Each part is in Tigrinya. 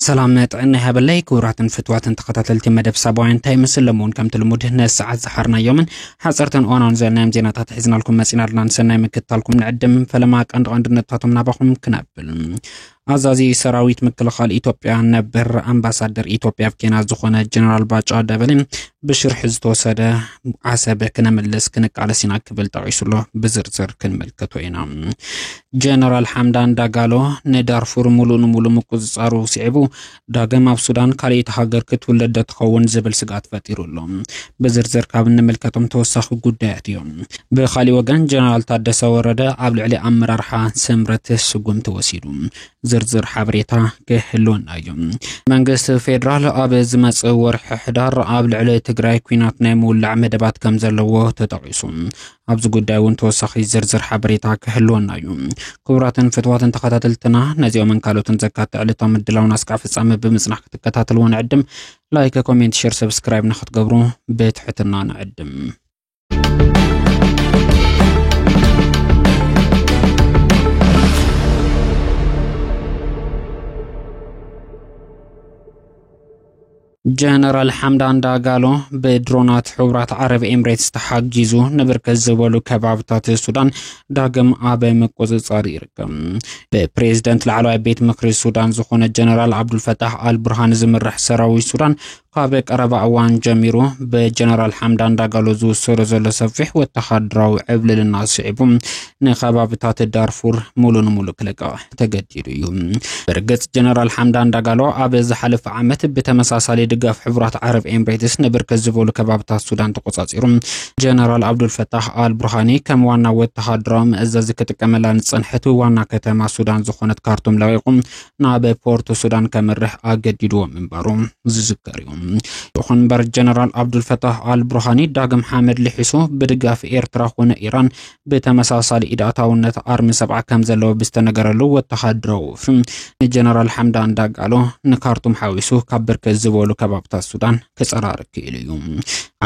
ሰላም ጥዕና ይሃበለይ ክቡራትን ፍትዋትን ተኸታተልቲ መደብ ሳባዊ እንታይ ይመስል ለምውን ከምቲ ልሙድ ነሰዓት ዝሓርናዮምን ሓፀርትን እዋናውን ዘለናዮም ዜናታት ሒዝናልኩም መፂና ኣለና ንሰናይ ምክትታልኩም ንዕድም ፈለማ ቀንዲ ቀንዲ ነጥብታቶም ናባኹም ክነብል ኣዛዚ ሰራዊት ምክልኻል ኢትዮጵያ ነበር ኣምባሳደር ኢትዮጵያ ኣብ ኬንያ ዝኾነ ጀነራል ባጫ ደበሌ ብሽርሒ ዝተወሰደ ዓሰብ ክነምልስ ክንቃለስ ኢና ክብል ጠቂሱ ኣሎ። ብዝርዝር ክንምልከቶ ኢና። ጀነራል ሓምዳን ዳጋሎ ንዳርፉር ሙሉእ ንሙሉእ ምቁፅፃሩ ስዒቡ ዳግም ኣብ ሱዳን ካልኣይቲ ሃገር ክትውለድ ዶ ትኸውን ዝብል ስግኣት ፈጢሩ ኣሎ። ብዝርዝር ካብ እንምልከቶም ተወሳኺ ጉዳያት እዮም። ብኻሊእ ወገን ጀነራል ታደሰ ወረደ ኣብ ልዕሊ ኣመራርሓ ስምረት ስጉምቲ ወሲዱ። ዝርዝር ሓበሬታ ክህልወና እዩ። መንግስቲ ፌዴራል ኣብ ዝመጽእ ወርሒ ሕዳር ኣብ ልዕሊ ትግራይ ኩናት ናይ ምውላዕ መደባት ከም ዘለዎ ተጠቒሱ። ኣብዚ ጉዳይ እውን ተወሳኺ ዝርዝር ሓበሬታ ክህልወና እዩ። ክቡራትን ፍትዋትን ተኸታተልትና ነዚኦምን ካልኦትን ዘካተ ዕለታዊ ምድላውን ኣስካዕ ፍጻመ ብምጽናሕ ክትከታተልዎ ንዕድም። ላይክ፣ ኮሜንት፣ ሼር፣ ሰብስክራይብ ንክትገብሩ ብትሕትና ንዕድም። ጀነራል ሓምዳን ዳጋሎ ብድሮናት ሕቡራት ዓረብ ኤምሬትስ ተሓጊዙ ንብርክት ዝበሉ ከባብታት ሱዳን ዳግም ኣብ ምቁፅፃር ይርከብ። ብፕሬዝደንት ላዕለዋይ ቤት ምክሪ ሱዳን ዝኾነ ጀነራል ዓብዱልፈታሕ ኣልቡርሃን ዝምራሕ ሰራዊት ሱዳን ካብ ቀረባ እዋን ጀሚሩ ብጀነራል ሓምዳን ዳጋሎ ዝውሰዶ ዘሎ ሰፊሕ ወተሃደራዊ ዕብልልና ስዒቡ ንከባብታት ዳርፉር ሙሉ ንሙሉ ክለቅቕ ተገዲዱ እዩ ብርግጽ ጀነራል ሓምዳን ዳጋሎ ኣብ ዝሓለፈ ዓመት ብተመሳሳሊ ድጋፍ ሕቡራት ዓረብ ኤምሬትስ ንብርክት ዝበሉ ከባብታት ሱዳን ተቆጻጺሩ ጀነራል ኣብዱልፈታሕ ኣልብርሃኒ ከም ዋና ወተሃደራዊ መእዘዚ ክጥቀመላ ንጸንሐት ዋና ከተማ ሱዳን ዝኾነት ካርቱም ለቂቑ ናብ ፖርት ሱዳን ከምርሕ ኣገዲድዎ ምንባሩ ዝዝከር እዩ ይኹን እምበር ጀነራል ኣብዱልፈታሕ ኣልብርሃኒ ዳግም ሓመድ ልሒሱ ብድጋፍ ኤርትራ ኮነ ኢራን ብተመሳሳሊ ኢድ ኣታውነት ኣርሚ ሰብዓ ከም ዘለዎ ብዝተነገረሉ ወተሃደራዊ ወፍሪ ንጀነራል ሓምዳን ዳጋሎ ንካርቱም ሓዊሱ ካብ ብርክት ዝበሉ ከባብታት ሱዳን ክፀራሪ ክኢሉ እዩ።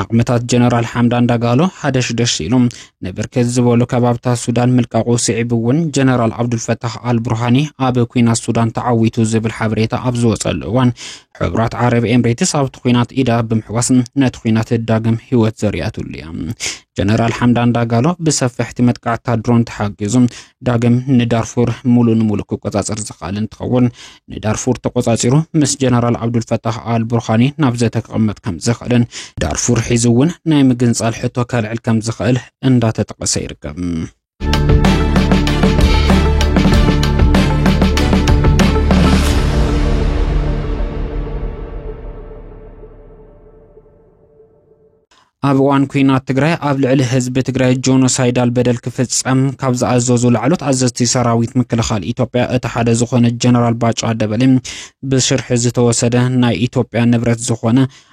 ዓቕምታት ጀነራል ሓምዳን ዳጋሎ ሓደሽደሽ ኢሉ ንብርክት ዝበሉ ከባብታት ሱዳን ምልቃቑ ስዒቡ እውን ጀነራል ዓብዱልፈታሕ ኣልቡርሃኒ ኣብ ኩናት ሱዳን ተዓዊቱ ዝብል ሓበሬታ ኣብ ዝወፀሉ እዋን ሕቡራት ዓረብ ኤምሬትስ ኣብቲ ኩናት ኢዳ ብምሕዋስ ነቲ ኩናት ዳግም ህይወት ዘርያትሉ እያ። ጀነራል ሓምዳን ዳጋሎ ብሰፈሕቲ መጥቃዕታ ድሮን ተሓጊዙ ዳግም ንዳርፉር ሙሉ ንሙሉ ክቆፃፀር ዝኽኣል እንትኸውን ንዳርፉር ተቆፃፂሩ ምስ ጀነራል ዓብዱልፈታሕ ኣል ቡርሃኒ ናብ ዘተ ክቕመጥ ከም ዝኽእልን ዳርፉር ሒዙ እውን ናይ ምግንፃል ሕቶ ከልዕል ከም ዝኽእል እንዳተጠቐሰ ይርከብ። ኣብ እዋን ኩናት ትግራይ ኣብ ልዕሊ ህዝቢ ትግራይ ጆኖሳይዳል በደል ክፍጸም ካብ ዝኣዘዙ ላዕሎት ኣዘዝቲ ሰራዊት ምክልኻል ኢትዮጵያ እቲ ሓደ ዝኾነ ጀነራል ባጫ ደበሌ ብሽርሒ ዝተወሰደ ናይ ኢትዮጵያ ንብረት ዝኾነ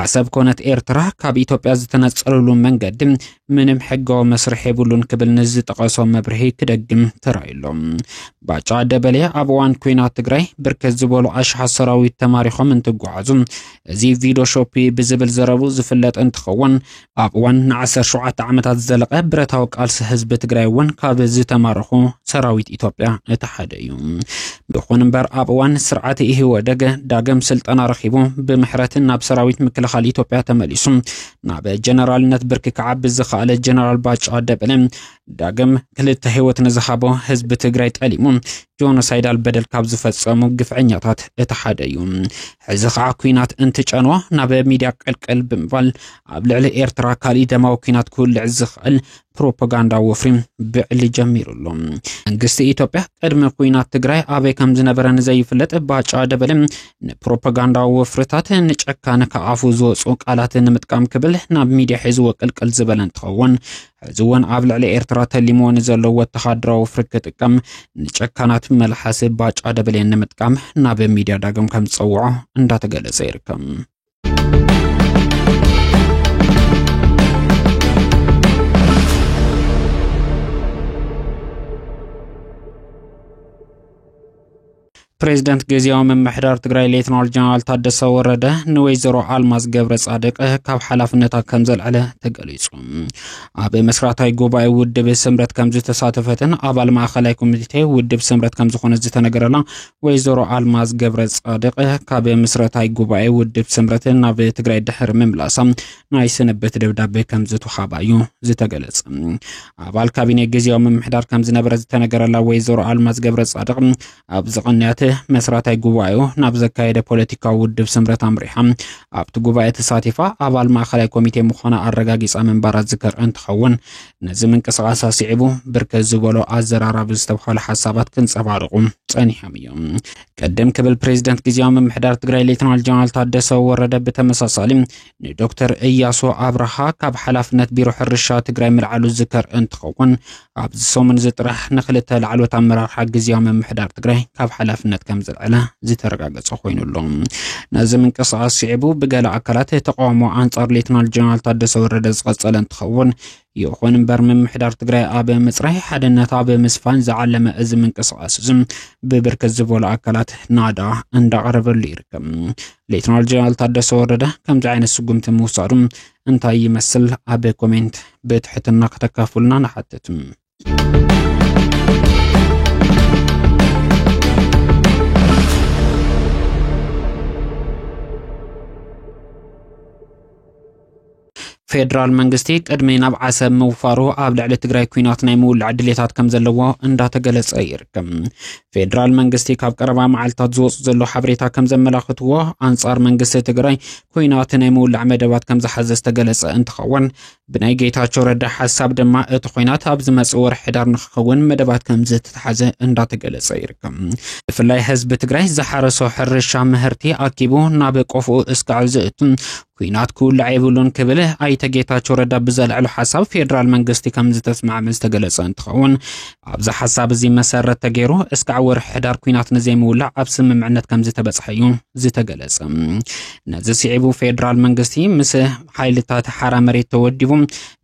ዓሰብ ኮነት ኤርትራ ካብ ኢትዮጵያ ዝተነጸሉሉ መንገዲ ምንም ሕጋዊ መስርሕ የብሉን ክብል ንዝጠቐሶ መብርሂ ክደግም ተራእዩሎ። ባጫ ደበሌ ኣብ እዋን ኩናት ትግራይ ብርክት ዝበሉ ኣሽሓት ሰራዊት ተማሪኾም እንትጓዓዙ እዚ ቪዲዮ ሾፒ ብዝብል ዘረቡ ዝፍለጥ እንትኸውን ኣብ እዋን ንዓሰርተ ሸውዓተ ዓመታት ዝዘለቐ ብረታዊ ቃልሲ ህዝቢ ትግራይ እውን ካብ ዝተማረኹ ሰራዊት ኢትዮጵያ እቲ ሓደ እዩ። ይኹን እምበር ኣብ እዋን ስርዓት ኢህወደግ ዳግም ስልጠና ረኺቡ ብምሕረት ናብ ሰራዊት ምክልኻል ኢትዮጵያ ተመሊሱ ናብ ጀነራልነት ብርኪ ክዓቢ ዝኸኣለ ጀነራል ባጫ ደበለ ዳግም ክልተ ህይወት ንዝሃቦ ህዝቢ ትግራይ ጠሊሙ ጆኖሳይዳል በደል ካብ ዝፈጸሙ ግፍዐኛታት እቲ ሓደ እዩ። ሕዚ ከዓ ኩናት እንትጨንዎ ናብ ሚድያ ቀልቀል ብምባል ኣብ ልዕሊ ኤርትራ ካሊእ ደማዊ ኩናት ክውልዕ ዝኽእል ፕሮፓጋንዳ ወፍሪ ብዕሊ ጀሚሩ ኣሎ። መንግስቲ ኢትዮጵያ ቅድሚ ኩናት ትግራይ ኣበይ ከም ዝነበረ ንዘይፍለጥ ባጫ ደበለ ንፕሮፓጋንዳ ወፍርታት ንጨካነ ከኣፉ ዝወፁ ቃላት ንምጥቃም ክብል ናብ ሚድያ ሒዝዎ ቅልቅል ዝበለ እንትኸውን ሕዚ እውን ኣብ ልዕሊ ኤርትራ ተሊምዎ ንዘሎ ወተሃደራዊ ወፍሪ ክጥቀም ንጨካናት መልሓስ ባጫ ደበሌን ንምጥቃም ናብ ሚድያ ዳግም ከም ዝፀውዖ እንዳተገለጸ ይርከብ። ፕሬዝደንት ግዝያዊ ምምሕዳር ትግራይ ሌትናል ጀነራል ታደሰ ወረደ ንወይዘሮ ኣልማዝ ገብረ ጻድቅ ካብ ሓላፍነታ ከም ዘልዕለ ተገሊጹ። ኣብ መስራታይ ጉባኤ ውድብ ስምረት ከም ዝተሳተፈትን ኣባል ማእኸላይ ኮሚቴ ውድብ ስምረት ከም ዝኾነ ዝተነገረላ ወይዘሮ ኣልማዝ ገብረ ጻድቅ ካብ ምስረታይ ጉባኤ ውድብ ስምረት ናብ ትግራይ ድሕሪ ምምላሳ ናይ ስንብት ደብዳቤ ከም ዝተዋሃባ እዩ ዝተገለጸ። ኣባል ካቢኔ ግዜያዊ ምምሕዳር ከም ዝነበረ ዝተነገረላ ወይዘሮ ኣልማዝ ገብረ ጻድቕ ኣብዚ ቅንያት መስራታይ ጉባኤኡ ናብ ዘካየደ ፖለቲካዊ ውድብ ስምረት ኣምሪሓ ኣብቲ ጉባኤ ተሳቲፋ ኣባል ማእኸላይ ኮሚቴ ምዃና ኣረጋጊጻ ምንባራ ዝከር እንትኸውን ነዚ ምንቅስቓስ ኣስዒቡ ብርከት ዝበሎ ኣዘራራቢ ዝተብሃሉ ሓሳባት ክንጸባርቑ ጸኒሖም እዮም። ቅድም ክብል ፕሬዚደንት ግዜያዊ ምምሕዳር ትግራይ ሌትናል ጀነራል ታደሰ ወረደ ብተመሳሳሊ ንዶክተር እያሱ ኣብርሃ ካብ ሓላፍነት ቢሮ ሕርሻ ትግራይ ምልዓሉ ዝዝከር እንትኸውን ኣብዚ ሰሙን እዚ ጥራሕ ንክልተ ላዕሎት ኣመራርሓ ግዜያዊ ምምሕዳር ትግራይ ካብ ሓላፍነት ከም ዝልዕለ ዝተረጋገፀ ኮይኑ ኣሎ። ነዚ ምንቅስቓስ ስዒቡ ብገለ ኣካላት ተቃውሞ ኣንጻር ሌትናል ጀነራል ታደሰ ወረደ ዝቐጸለ እንትኸውን ይኹን እምበር ምምሕዳር ትግራይ ኣብ ምፅራይ ሓድነት ኣብ ምስፋን ዝዓለመ እዚ ምንቅስቓስ እዚ ብብርክት ዝበሉ ኣካላት ናዳ እንዳቐረበሉ ይርከብ። ሌትናል ጀነራል ታደሰ ወረደ ከምዚ ዓይነት ስጉምቲ ምውሳዱ እንታይ ይመስል? ኣብ ኮሜንት ብትሕትና ከተካፍሉና ንሓትት። ፌደራል መንግስቲ ቅድሚ ናብ ዓሰብ ምውፋሩ ኣብ ልዕሊ ትግራይ ኩናት ናይ ምውላዕ ድሌታት ከም ዘለዎ እንዳተገለጸ ይርከብ። ፌደራል መንግስቲ ካብ ቀረባ መዓልትታት ዝወፁ ዘሎ ሓበሬታ ከም ዘመላኽትዎ ኣንጻር መንግስቲ ትግራይ ኩናት ናይ ምውላዕ መደባት ከም ዝሓዘ ዝተገለጸ እንትኸውን ብናይ ጌታቸው ረዳ ሓሳብ ድማ እቲ ኩናት ኣብ ዝመጽእ ወርሒ ሕዳር ንክኸውን መደባት ከም ዝተተሓዘ እንዳተገለጸ ይርከብ። ብፍላይ ህዝቢ ትግራይ ዝሓረሶ ሕርሻ ምህርቲ ኣኪቡ ናብ ቆፍኡ እስካዕ ዝእቱ ኩናት ክውልዕ የብሉን ክብል ኣይተ ጌታቸው ረዳ ብዘልዕሉ ሓሳብ ፌዴራል መንግስቲ ከም ዝተስማዕመ ዝተገለጸ እንትኸውን ኣብዚ ሓሳብ እዚ መሰረት ተገይሩ እስካዕ ወርሒ ሕዳር ኩናት ንዘይምውላዕ ኣብ ስምምዕነት ከም ዝተበጽሐ እዩ ዝተገለጸ። ነዚ ስዒቡ ፌዴራል መንግስቲ ምስ ሓይልታት ሓራ መሬት ተወዲቡ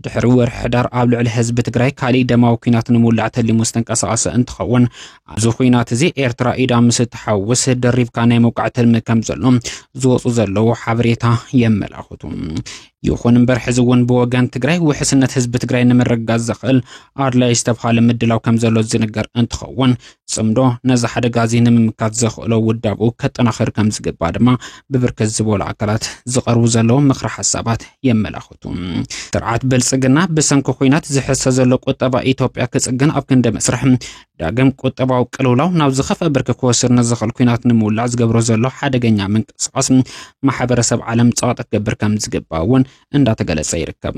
ድሕሪ ወርሒ ሕዳር ኣብ ልዕሊ ህዝቢ ትግራይ ካሊእ ደማዊ ኩናት ንምውላዕ ተሊሙ ዝተንቀሳቐሰ እንትኸውን ኣብዚ ኹናት እዚ ኤርትራ ኢዳ ምስ እትሓውስ ደሪብካ ናይ ምውቃዕ ትልሚ ከም ዘሎ ዝወፁ ዘለዉ ሓበሬታ የመላኽቱ። ይኹን እምበር ሕዚ እውን ብወገን ትግራይ ውሕስነት ህዝቢ ትግራይ ንምርግጋፅ ዘኽእል ኣድላይ ዝተብሃለ ምድላው ከም ዘሎ ዝንገር እንትኸውን ፅምዶ ነዚ ሓደጋ እዚ ንምምካት ዘኽእሎ ውዳብኡ ከጠናኽር ከም ዝግባእ ድማ ብብርክት ዝበሉ ኣካላት ዝቐርቡ ዘለዉ ምኽሪ ሓሳባት የመላኽቱ። ስርዓት ብልፅግና ብሰንኪ ኩናት ዝሕሰ ዘሎ ቁጠባ ኢትዮጵያ ክፅግን ኣብ ክንዲ መስርሕ ዳግም ቁጠባዊ ቅልውላው ናብ ዝኸፍአ ብርኪ ክወስድ ንዝኽእል ኩናት ንምውላዕ ዝገብሮ ዘሎ ሓደገኛ ምንቅስቓስ ማሕበረሰብ ዓለም ፀቕጢ ክገብር ከም ዝግባእ እውን እንዳተገለፀ ይርከብ።